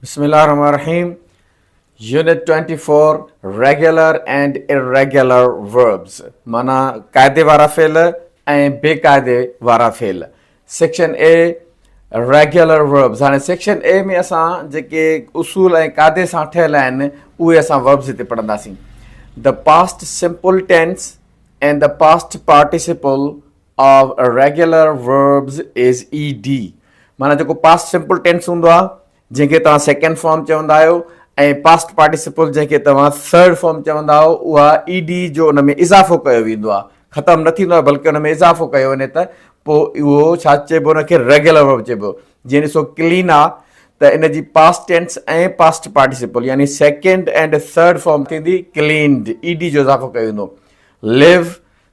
بسم الله الرحمن الرحيم unit twenty four regular and irregular verbs معنيٰ قاعدي وارا فعل ۽ بي قاعدي وارا فعل سيڪشن اي ريگيولر وربز هاڻي سيڪشن اي ۾ اسان جيڪي اصول ۽ قاعدي سان ٺهيل آهن اهي اسان وربز هتي پڙهنداسين the past simple tense and the past participle of regular verbs is E D معنيٰ جيڪو پاسٽ سمپل ٽينس هوندو آهي جنهن کي توهان سيڪنڊ فارم چوندا آهيو ۽ پاسٽ پارٽيسپل جنهن کي توهان ٿرڊ فارم چوندا آهيو اها اي ڊي جو ان ۾ اضافو ڪيو ويندو آهي ختم نه ٿيندو آهي بلڪه ان ۾ اضافو ڪيو وڃي ته پوء اهو ڇا چئبو ان کي ريگيولر ورب چئبو جيئن ڏسو ڪلين آهي ته ان جي پاسٽ ٽينس ۽ پاسٽ پارٽيسپل يعني سيڪنڊ اينڊ ٿرڊ فارم ٿيندي ڪلينڊ اي ڊي جو اضافو ڪيو ويندو ليو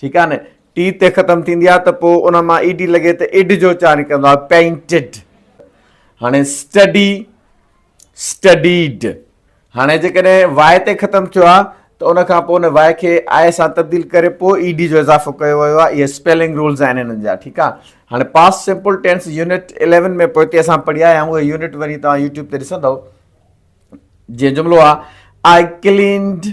ٺيڪ آهي نه ٽي تي ختم ٿيندي آهي ته پوء ان مان اي ڊي لڳي ته اڊ جو اچار نڪرندو آهي پينٽڊ هاڻي اسٽڊي اسٽڊيڊ هاڻي جيڪڏهن واء تي ختم ٿيو آهي ته ان کان پوء ان واء کي آء سان تبديل ڪري پوء اي ڊي جو اضافو ڪيو ويو آهي اهي اسپيلنگ رولز آهن هنن جا ٺيڪ آهي هاڻي past simple tense unit eleven ۾ پوئتي اسان پڙهي آيا آهيون اهي يونٽ وڃي توهان يوٽيوب تي ڏسندو جيئن جملو آهي آء ڪلينڊ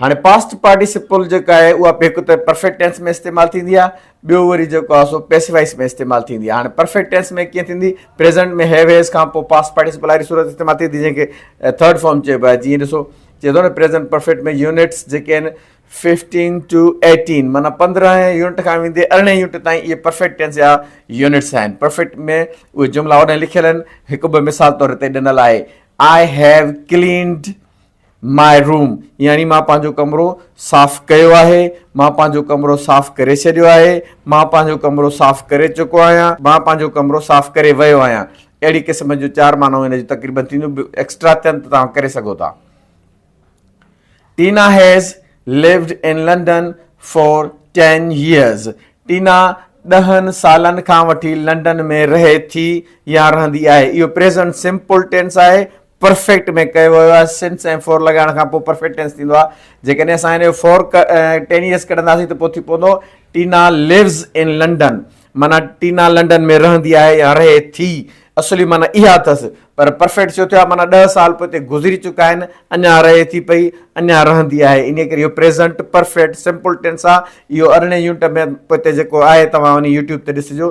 هاڻي پاسٽ پارٽيسپل جيڪا آهي اها به هڪ ته پرفيڪٽ ٽينس ۾ استعمال ٿيندي آهي ٻيو وري جيڪو آهي سو پيسوائس ۾ استعمال ٿيندي آهي هاڻي پرفيڪٽ ٽينس ۾ ڪيئن ٿيندي پريزنٽ ۾ هيو هيز کان پوء پاسٽ پارٽيسپل واري صورت استعمال ٿي ٿي جنهن کي ٿرڊ فارم چئبو آهي جيئن ڏسو چئي ٿو نه پريزنٽ پرفيڪٽ ۾ يونٽس جيڪي آهن ففٽين ٽو ايٽين مانا پندرهن يونٽ کان ويندي ارڙهن يونٽ تائين اهي پرفيڪٹ ٽينس جا يونٽس آهن پرفيڪٽ ۾ اهي جملا اڏن لکيل آهن هڪ ٻه مثال طور تي ڏنل آهي I have cleaned my room يعني مان پنهنجو ڪمرو صاف ڪيو آهي، مان پنهنجو ڪمرو صاف ڪري ڇڏيو آهي، مان پنهنجو ڪمرو صاف ڪري چڪو آهيان، مان پنهنجو ڪمرو صاف ڪري ويو آهيان. اهڙي قسم جون چار معنائون هن جون تقريبن ٿينديون به ايڪسٽرا ٿين ته توهان ڪري سگهو ٿا. Tina has lived in London for ten years Tina ڏهن سالن کان وٺي لنڊن ۾ رهي ٿي يا رهندي آهي. اهو پريزنٽ سمپل ٽينس آهي پرفيڪٽ ۾ ڪيو ويو آهي سنس ۽ فور لڳائڻ کان پوء پرفيڪٽ ٽينس ٿيندو آهي جيڪڏهن اسان هن جو فور ٽينيس ڪڍنداسين ته پوء ٿي پوندو ٽينا ليوز ان لنڊن معنيٰ ٽينا لنڊن ۾ رهندي آهي يا رهي ٿي اصلي معنيٰ اها اٿس پر پرفيڪٽ ڇو ٿيو آهي معنيٰ ڏهه سال پوء تي گذري چڪا آهن اڃا رهي ٿي پئي اڃا رهندي آهي ان ڪري اهو پريزنٽ پرفيڪٽ سمپل ٽينس آهي اهو ارڙهين يونٽ ۾ پوء تي جيڪو آهي توهان ان يوٽيوب تي ڏسجو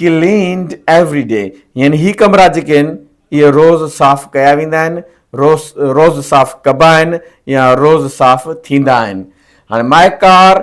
Cleaned every day يعني هي ڪمرا جيڪي آهن اهي روز صاف ڪيا ويندا آهن، روز روز صاف ڪبا آهن يا روز صاف ٿيندا آهن. هاڻي My car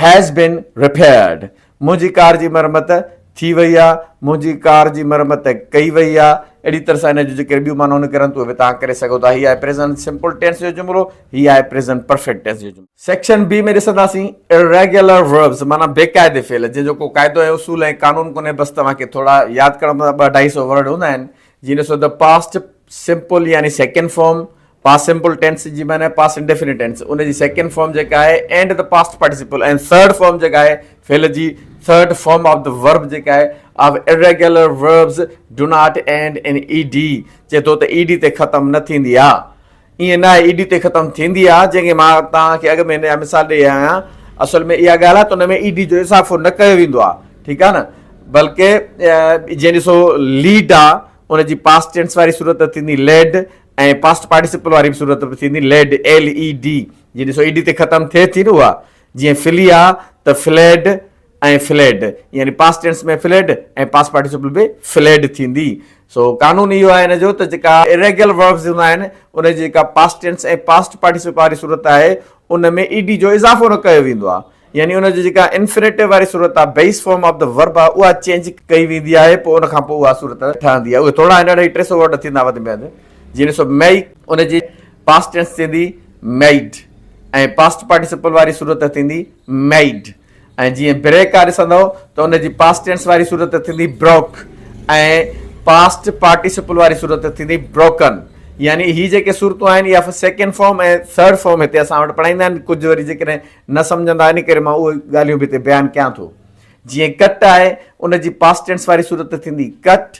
has been repaired منهنجي ڪار جي مرمت ٿي وئي آهي، منهنجي ڪار جي مرمت ڪئي وئي آهي. اهڙي طرح سان ان جون جيڪي ٻيون معنائون نڪرن ٿيون اهي به توهان ڪري سگهو ٿا. هي آهي پريزنٽ سمپل ٽينس جو جملو. هي آهي پريزنٽ پرفيڪٽ ٽينس جو جملو. سيڪشن بي ۾ ڏسنداسين Irregular Verbs معنيٰ بي قاعدي فعل جنهن جو ڪو قاعدو ۽ اصول ۽ قانون ڪونهي بس توهان کي ٿورا ياد ڪرڻا پوندا ٻه اڍائي سئو ورڊ هوندا آهن جيئن ڏسو ته پاسٽ سمپل يعني second form past simple tense جي معنيٰ پاسٽ انڊيفينٽ ٽينس ان جي سيڪنڊ فارم جيڪا آهي اينڊ ته پاسٽ پارٽيسپل ۽ ٿرڊ فارم جيڪا آهي فعل جي third form of the verb جيڪا آهي of Irregular Verbs do not end in E D چئي ٿو ته اي ڊي تي ختم نه ٿيندي آهي ائين نه آهي اي ڊي تي ختم ٿيندي آهي جنهن کي مان توهان کي اڳ ۾ هن جا مثال ڏئي آيو آهيان اصل ۾ اها ڳالهه آهي ته ان ۾ اي ڊي جو اضافو نه ڪيو ويندو آهي ٺيڪ آهي نه بلڪه جيئن ڏسو ليڊ آهي ان جي پاسٽ ٽينس واري صورت ته ٿيندي ليڊ ۽ پاسٽ پارٽيسپل واري به صورت به ٿيندي ليڊ ايل اي ڊي جي ڏسو اي ڊي تي ختم ٿئي ٿي نه اها جيئن فلي آهي ته فليڊ ۽ فليڊ يعني past tense ۾ filled ۽ past participle به فليڊ ٿيندي سو قانون اهو آهي ان جو ته جيڪا اريگيل وربز هوندا آهن ان جي جيڪا پاسٽ ٽينس ۽ پاسٽ پارٽيسپل واري صورت آهي ان ۾ اي ڊي جو اضافو نه ڪيو ويندو آهي يعني ان جو جيڪا انفينيٽو واري صورت آهي base form of the verb آهي اها چينج ڪئي ويندي آهي پوء ان کان پوء اها صورت ٺهندي آهي اهي ٿورا هن ٽي سو ورڊ ٿيندا وڌ ۾ وڌ جيئن سو مئي ان جي پاسٽ ٽينس ٿيندي ميئڊ ۽ پاسٽ پارٽيسپل واري صورت ٿيندي ميئڊ ۽ جيئن بريڪا ڏسندؤ ته ان جي پاسٽ ٽينس واري صورت ٿيندي بروڪ ۽ پاسٽ پارٽيسپل واري صورت ٿيندي بروڪن يعني هي جيڪي صورتون آهن اها سيڪنڊ فارم ۽ ٿرڊ فارم هتي اسان وٽ پڙهائيندا آهن ڪجهه وري جيڪڏهن نه سمجهندا ان ڪري مان اهي ڳالهيون به هتي بيان ڪيان ٿو جيئن ڪٽ آهي ان جي پاسٽنس واري صورت ٿيندي cut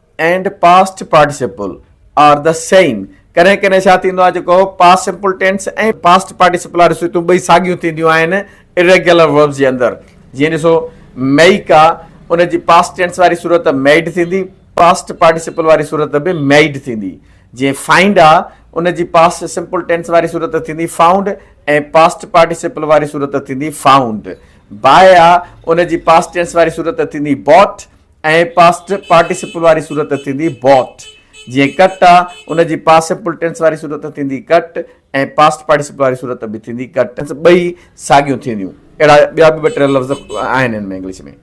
and past participle are the same ڪڏهن ڪڏهن ڇا ٿيندو آهي جيڪو past simple tense ۽ past participle واريون صورتون ٻئي ساڳيون ٿينديون آهن اريگيولر وربس جي اندر جيئن ڏسو ميڪ آ ان جي پاسٽ ٽينس واري صورت ميڊ ٿيندي پاسٽ پارٽيسپل واري صورت به ميڊ ٿيندي جي فائنڊ آ ان جي پاسٽ سمپل ٽينس واري صورت ٿيندي فائونڊ ۽ پاسٽ پارٽيسپل واري صورت ٿيندي فائونڊ باء آ ان جي پاسٽ ٽينس واري صورت ٿيندي بوٽ ۽ پاسٽ پارٽيسپل واري صورت ٿيندي Bought. جيئن ڪٽ آ، ان جي پاسپل ٽينس واري صورت ٿيندي Cut ۽ پاسٽ پارٽيسپل واري صورت به ٿيندي Cut. ٻئي ساڳيون ٿينديون. اهڙا ٻيا به ٻه ٽي لفظ آهن ان ۾ English ۾.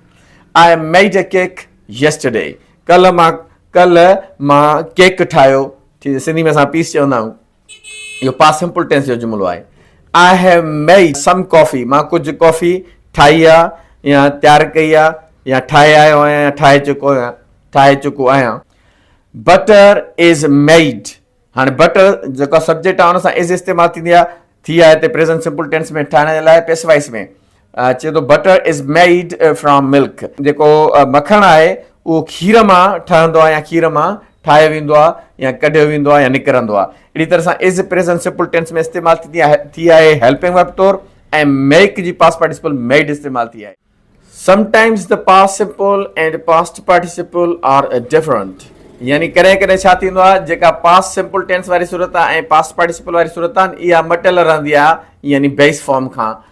I made a cake yesterday. ڪلهه مان ڪلهه مان ڪيڪ ٺاهيو. سنڌي ۾ اسان پيس چوندا آهيون. اهو پاسٽ سمپل ٽينس جو جملو آهي. آء هيو ميئڊ سم ڪافي مان ڪجهه ڪافي ٺاهي آ يا تيار ڪئي آ يا ٺاهي آيو آهيان يا ٺاهي چڪو آهيان ٺاهي چڪو آهيان بٽر از ميئڊ هاڻي بٽر جيڪا سبجيڪٽ آهي ان سان از استعمال ٿيندي آهي ٿي آهي هتي پريزنٽ سمپل ٽينس ۾ ٺاهڻ جي لاء پيسوائس ۾ چئي ٿو Butter is made from milk جيڪو مکڻ آهي اهو کير مان ٺهندو آهي يا کير مان ٺاهيو ويندو آهي يا ڪڍيو ويندو آهي يا نڪرندو آهي اهڙي طرح سان is پريزنٽ سمپل ٽينس ۾ استعمال ٿي آهي هيلپنگ ورب طور ۽ ميڪ جي پاس پارٽيسپل ميڊ استعمال ٿي آهي sometimes the past simple and past participle are different يعني ڪڏهن ڪڏهن ڇا ٿيندو آهي جيڪا پاس سمپل ٽينس واري صورت آهي ۽ پاسٽ پارٽيسپل واري صورت آهن اها مٽيل رهندي آهي يعني بيس فارم کان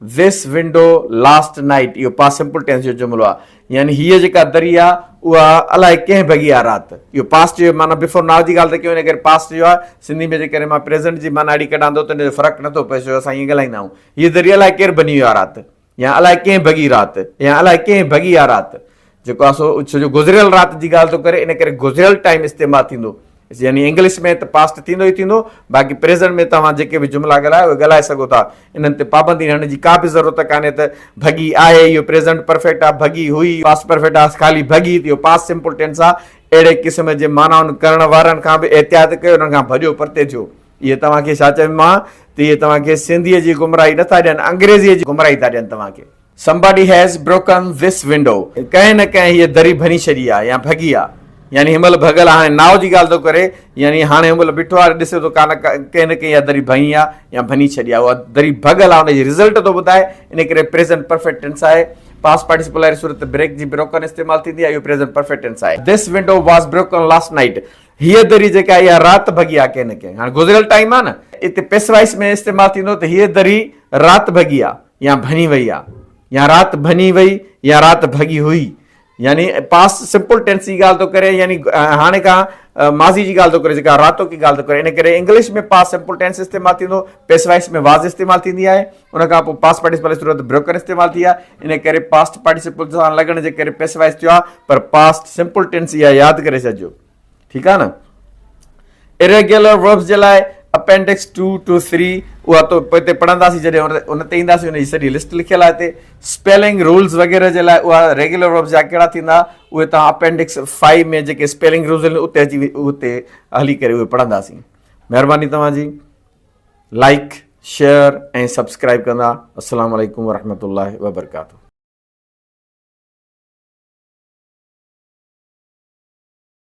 This window last night اهو Past Simple Tense جو جملو آهي يعني هيء جيڪا دري آهي اها الاء ڪنهن ڀڳي آهي رات اهو Past جو معنيٰ Before Now جي ڳالهه ته ڪيون هن ڪري Past جو آهي سنڌي ۾ جيڪڏهن مان Present جي معنيٰ اهڙي ڪڍان ٿو ته ان جو فرق نه ٿو پئي ڇو جو اسان ائين ڳالهائيندا آهيون هيء دري الاء ڪير ڀڃي ويو آهي رات يا الاء ڪنهن ڀڳي رات يا الاء ڪنهن ڀڳي آهي رات جيڪو آهي سو سڄو گذريل رات جي ڳالهه ٿو ڪري ان ڪري گذريل ٽائيم استعمال ٿيندو يعني انگلش ۾ ته پاسٽ ٿيندو ئي ٿيندو باقي پريزنٽ ۾ توهان جيڪي به جملا ڳالهايا اهي ڳالهائي سگهو ٿا انهن تي پابندي رهڻ جي ڪا به ضرورت ڪانهي ته ڀڳي آهي اهو پريزنٽ پرفيڪٽ آهي ڀڳي هئي پاسٽ پرفيڪٽ آهي خالي ڀڳي اهو پاسٽ سمپل ٽينس آهي اهڙي قسم جي معنائن ڪرڻ وارن کان به احتياط ڪيو انهن کان ڀڄو پرتي ٿيو اهي توهان کي ڇا چوي مان ته اهي توهان کي سنڌيء جي گمراهي نٿا ڏين انگريزيء جي گمراهي ٿا ڏين توهان کي Somebody has broken this window ڪنهن نه ڪنهن هيء دري ڀڃي ڇڏي آهي يا ڀڳي آهي يعني هن مهل ڀڳل هاڻي ناء جي ڳالهه ٿو ڪري يعني هاڻي هن مهل بيٺو آهي ڏسي ٿو ڪانه ڪنهن نه ڪنهن اها دري ڀڃي آهي يا ڀڃي ڇڏي آهي اها دري ڀڳل آهي ان جي رزلٽ ٿو ٻڌائي ان ڪري پريزنٽ پرفيڪٽ ٽينس آهي پاس پارٽيسپل واري صورت بريڪ جي بروڪن استعمال ٿيندي آهي اهو پريزنٽ پرفيڪٽ ٽينس آهي this window was broken last night هيء دري جيڪا اها رات ڀڳي آهي ڪنهن نه ڪنهن هاڻي گذريل ٽائيم آهي نه اتي پيسوائس ۾ استعمال ٿيندو ته هيء دري رات ڀڳي آهي يا ڀڃي وئي آ يا رات ڀڃي وئي يا رات ڀڳي هئي يعني پاسٽ سمپل ٽينس جي ڳالهه ٿو ڪري يعني هاڻي کان ماضي جي ڳالهه ٿو ڪري جيڪا راتو ڪي ڳالهه ٿو ڪري ان ڪري انگلش ۾ پاس سمپل ٽينس استعمال ٿيندو پيس وائس ۾ واز استعمال ٿيندي آهي ان کان پوء پاس پارٽيسپل صورت بروڪن استعمال ٿي آهي ان ڪري پاس پارٽيسپل سان لڳڻ جي ڪري پيس وائس ٿيو آهي پر پاسٽ سمپل ٽينس يا ياد ڪري سڏجو ٺيڪ آهي نه Irregular verbs جي لاء اپينڊڪس 2 ٽو 3 اها تو پوئتي پڙهنداسين جڏهن ان تي اينداسين ان جي سڄي لسٽ لکيل آهي هتي اسپيلنگ رولز وغيره جي لاء اها ريگيولر وربز جا ڪهڙا ٿيندا اهي توهان اپينڊڪس 5 ۾ جيڪي اسپيلنگ رولز آهن اتي اچي اتي هلي ڪري اهي پڙهنداسين مهرباني توهان جي لائڪ شيئر ۽ سبسڪرائب ڪندا السلام عليڪم ورحمۃ اللہ وبرکاتہ